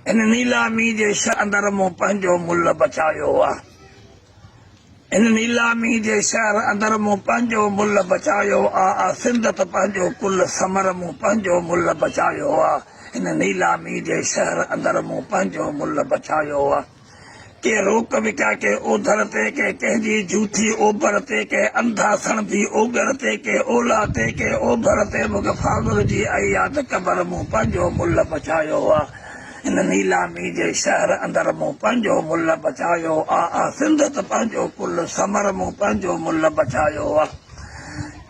هن نيلامي جي شهر اندر مون پنهنجو ملهه بچايو آ هن نيلامي جي شهر اندر مون پنهنجو ملهه بچايو آ آ سنڌ ته پنهنجو ڪل سمر مون پنهنجو ملهه بچايو آ هن نيلامي جي شهر اندر مون پنهنجو ملهه بچايو آ. ڪي روڪ وڪا ڪي اوڌر تي ڪي ڪنهن جي جوٿي اوڀر تي ڪي انڌا سڻڀي اوڳر تي ڪي اولا تي ڪي اوڀر تي مون کي فاضل جي اهي ياد قبر مون پنهنجو ملهه پڇايو آ هن نيلامي جي شهر اندر مون پنهنجو ملهه پڇايو آ آ سنڌ ته پنهنجو ڪل ثمر مون پنهنجو ملهه پڇايو آ.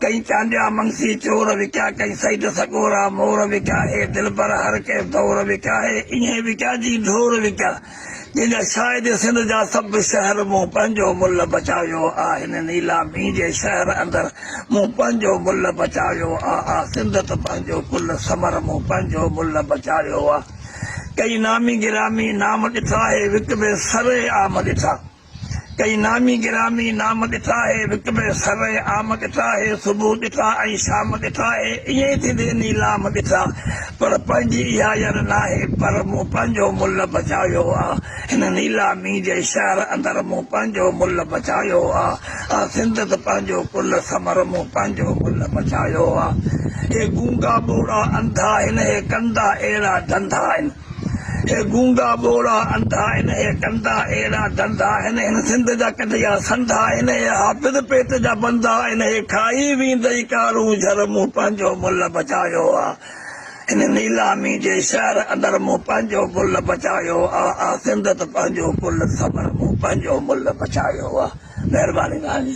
ڪئين چانڊيا منگسي چور وڪيا ڪئين سيد سڳورا مور وڪيا اي دلبر هر ڪنهن دور وڪيا اي ايئن وڪيا جي ڍور وڪيا جنهن جا شاهد سنڌ جا سڀ شهر مون پنهنجو ملهه بچايو آ هن نيلامي جي شهر اندر مون پنهنجو ملهه بچايو آ آ سنڌ ته پنهنجو ڪل ثمر مون پنهنجو ملهه بچايو آ ڪئين نامي گرامي نام ڏٺا اي وڪبي سري عام ڏٺا. ڪئي نامي گرامي نام ڏٺا آهي وڪ ۾ سر عام ڏٺا آهي صبح ڏٺا ۽ شام ڏٺا آهي ائين ئي ٿيندي نيلام ڏٺا پر پنهنجي اها ير ناهي پر مون پنهنجو ملهه بچايو آ هن نيلامي جي شهر اندر مون پنهنجو ملهه بچايو آ آ سنڌ ته پنهنجو ڪل سمر مون پنهنجو ملهه بچايو آ اهي گونگا ٻوڙا انڌا هن اهي ڪندا اهڙا ڌنڌا ان هي گونگا ٻوڙا انڌا آهن هي ڪندا اهڙا ڌنڌا آهن هن سنڌ جا ڪڍيا سنڌا آهن هي حافظ پيٽ جا بندا آهن هي کائي ويندئي ڪارون جھر مون پنهنجو ملھ بچايو آ هن نيلامي جي شهر اندر مون پنهنجو ملھ بچايو آ آ سنڌ ته پنهنجو ڪل ٿمر مون پنهنجو ملھ بچايو آ مهرباني ناهي.